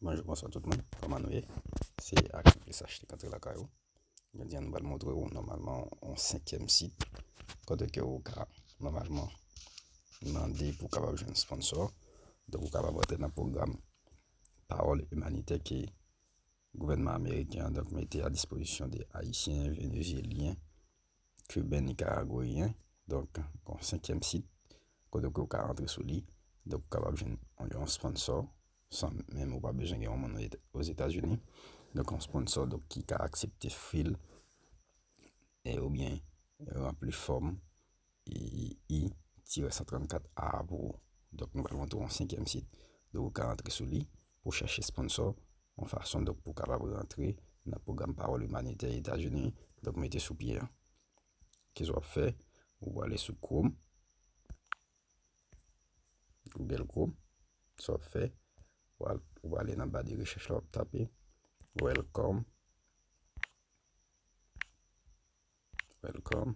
Bonjou bonsoir tout moun, kòman nou ye? Se Aksyon SH ki antre lakay ou. Jodi an nou pral montre ou nòmalman on senkyèm sit kote ke ou ka nòmalman mande pou kapab jwenn sponsò. Donk ou kapab antre nan pwogram pawòl imanitè ke gouvènman ameriken an donk mete a dispozisyon de ayisyen, venezyelyen, Cubain Nicaraguayen, donk yon senkyèm sit kote ke ou ka antre sou li, donk ou kapab jwenn yon sponsor san menm ou pa bezwen gen yon moun ozetazini, donk yon sponsor donk ki ka aksepte fil e ou byen ranpli fòm I-134A pou ou. Donk nou pral montre ou yon senkyèm sit, donk ou ka antre sou li. pou chèche sponsò, yon fason donk pou kapab rantre nan pwogram Pawòl Imanitè Etazini donk mete sou pye an. Kisa w ap fè? Ou prale sou Chrome, Google Chrome, sa w ap fè, ou prale nan ba de rechèch la, w ap tape Welcome.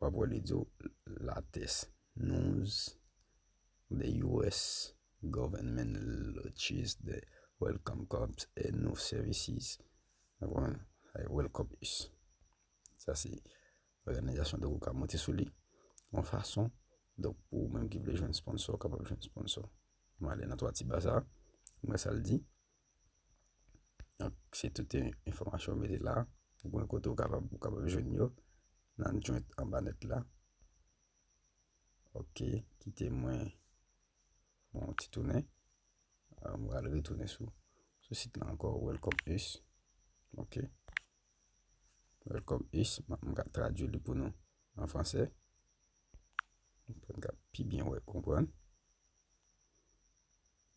wap wè li di w latest news the US government launches the Welcome Corps a new services ou konprann ay Welcome us sa se òganizasyon donk ou ka monte sou li yon fason donk pou ou menm ki vle jwenn sponsò ou kapab jwenn sponsò mwen ale nan 3 ti ba sa mwen wè sa l di. Donk, se tout enfòmasyon ou mete la, ou gen kote ou kapab ou kapab jwenn yo nan joint anba nèt la. Ok, kite mwen fè yon ti tounen. Mwen pral retounen sou sit la ankò Welcome Us. Ok, Welcome Us, mwen ka tradui li pou nou an fransè. Mwen ka pi byen wè konprann.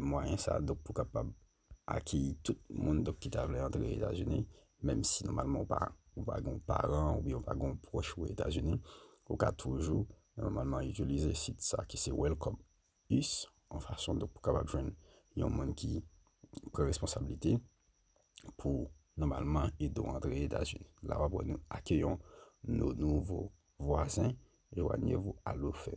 mwayen sa dok pou kapab akeyi tout moun dok ki ta vle antre Etazini menm si nòmalman ou pa ou pa gen yon paran oubyen ou pa gen yon pwòch ou Etazini ou ka toujou nòmalman itilize sit sa ki se Welcome Us yon fason dok pou kapab jwenn yon moun ki pran responsablite pou nòmalman ede w antre Etazini la w ap wè nou akeyon nou nouvo vwazen Joigner-vous à l'offre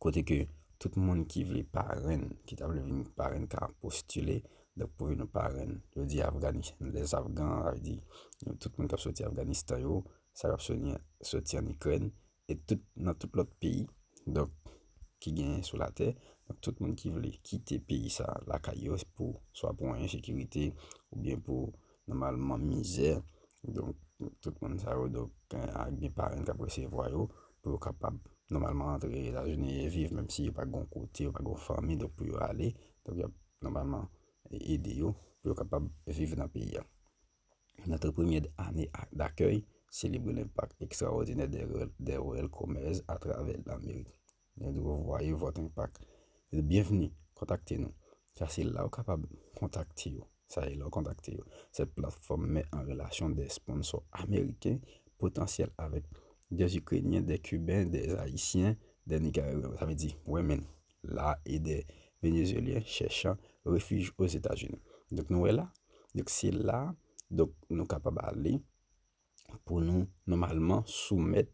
Kote ke tout moun ki vle parenn, ki ta vle vin parenn ka postile dèk pou vin parenn. Yo di Afganistan, les Afgans, sa vle di tout moun k ap soti Afganistan yo, sa k ap soti an Ikrèn, e tout nan tout lòt peyi donk ki genyen sou latè. Donk tout moun ki vle kite peyi sa lakay yo pou swa pou ensekirite oubyen pou Nòmalman mizè, donk tout moun sa yo donk ak gen paren k ap resevwa yo pou yo kapab nòmalman antre Etazini e viv menm si yo pa gen kote, yo pa gen fanmi donk pou yo ale. Donk y ap nòmalman ede yo pou yo kapab viv nan peyi a. Nan tou premye ane dakèy, selebre lenpak ekstrawòdinè de Ruel Gomez atravè Lamerik. Mwen di wou vwaye vòt enpak. Byenvni, kontakte nou. Sa se la ou kapab kontakte yo. Sa e la ou kontakte yo. Sèt platfòm mè an relasyon dè sponsò ameriken, potansyèl avèk dè ikrenyen, dè kiben, dè ayisyen, dè nikaragwen. Sa vle di women la e dè venezyelyen chèchan refij ozetazini. Donk nou wè la, donk se la, donk nou kapab ale. pou nou nòmalman soumèt,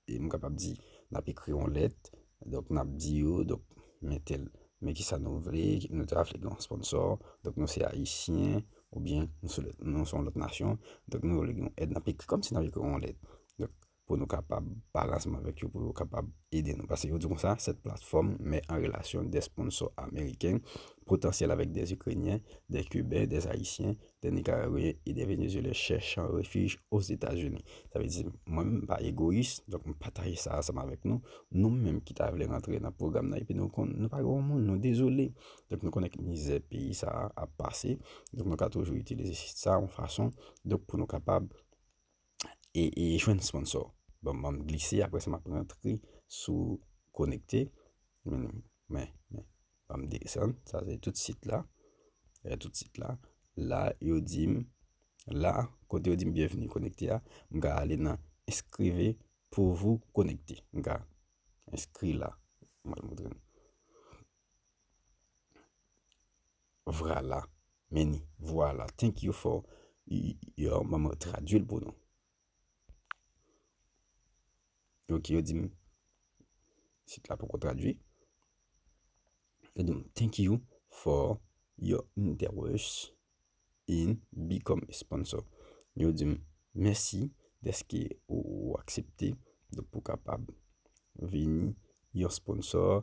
e m kapab di n ap ekri yon lèt, donk n ap di yo, donk men tèl, men ki sa nou vle, nou ta vle gen yon sponsò, donk nou se ayisyen, ou byen nou se nou se yon lòt nasyon, donk nou vle gen yon èd, n ap ekri kòm si n ap ekri yon lèt, donk pou nou kapab pale ansanm avèk yo pou yo kapab ede nou, pase yo di konsa, sèt platfòm mè an relasyon dè sponsò ameriken potansyèl avèk dè ikrenyen, dè kiben, dè ayisyen, de Nicaragüen et de Venezuelens chèchan refij Ozetazini. Sa vle di, mwen menm m pa egoyis, donk m pataje sa ansanm avèk nou. Nou menm ki ta vle rantre nan pwogram nan epi nou konn nou pa gen yon moun, nou dezole. Donk nou konnen ki mizè peyi sa a ap pase, donk nou ka toujou itilize sit sa a yon fason donk pou nou kapab e e jwenn sponsor. Bon, mwen glise apre sa map rentre sou konekte. Men, men, men. Mwen desan, sa se tout sit la. E eh, tout sit la. La, yo dim, la, kote yo dim bienvenue konekte a, mwen ka ale nan eskreve pou vou konekte. Mwen ka eskri la. Mwen mwen mwen. Vrala. Men ni. Vwala. Thank you for your Mwen tradwi l pou nou. Ok, yo di m sit la poko tradwi. Yo di m thank you for your interest in become a sponsor. Yo di m mèsi dèske ou aksepte pou kapab vini yon sponsor.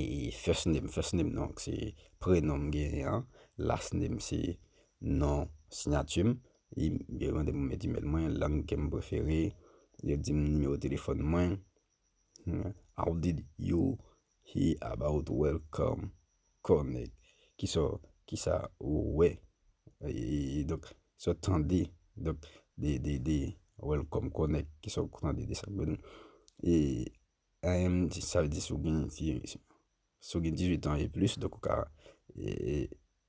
E first name, first name non, se prenom m genyen an, last name se non sinyati m, e yo mande m met email mwen, lang ke m prefere, yo di m nimewo telefòn mwen, how did you hear about Welcome Connect, kisa, kisa ou wè, e donk, sa w tande, donk, de, de, de Welcome Connect, kisa ou tande de sa, e. Sa vle di si w gen 18 ans e plis donk ou ka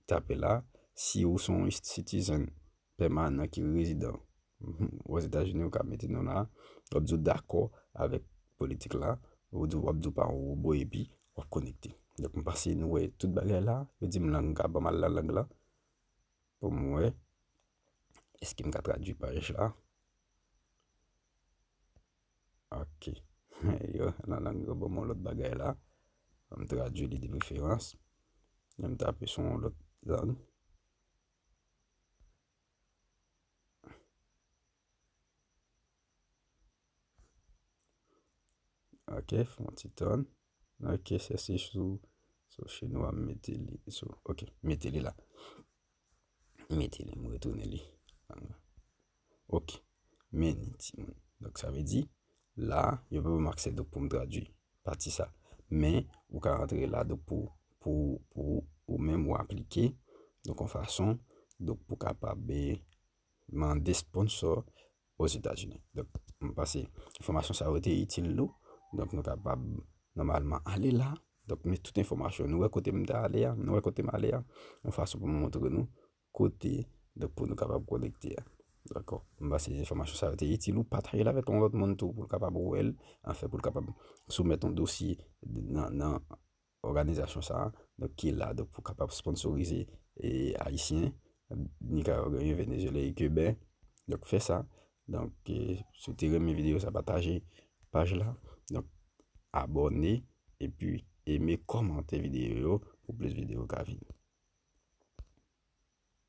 tape la. Si ou son citizen pèmanan ki rezidan ozetazini ou ka mete non la. W ap di ou dakò avèk politik la. Ou di w ap di ou pa yon wobo epi w ap konekte. Donk m pase nou wè tout bagay la. Yo di m lang la, ban m al nan lang la pou m wè èske m ka tradui paj la. Ok. Yo, nan lang yo ban mwen yon lòt bagay la. An m tradui li de preferans. Lè m tape sou yon lòt lang. Ok, fè yon ti tan. Ok, se si sou chinwa m mete li. Ok, m mete li la. M mete li, m retounen li. Ok. Men ni ti moun. Donk sa vle di, la, yo pa ban m aksè donk pou m tradui pati sa. Men, ou ka rantre la donk pou, pou, pou ou menm ou aplike donk yon fason donk pou kapab mande sponsor Ozetazini. Donk, m panse enfòmasyon sa yo te itil nou. Donk nou kapab nòmalman ale la. Donk, men tout enfòmasyon nou wè kote m ta ale a, nou wè kote m ale a yon fason pou m montre nou. kote donk pou nou kapab konekte a. Dakò. M panse enfòmasyon sa yo te itil ou pataje l avèk yon lòt moun tou pou l kapab wè l, anfen pou l kapab soumèt yon dosye nan òganizasyon sa a donk ki la donk pou kapab sponnsorize ayisyen, Nikaragwen, Venezyelyen e Kiben donk fè sa Donk, si w te renmen videyo sa pataje paj la. Donk, abòne epi eme, kòmante videyo yo pou plis videyo ka vini.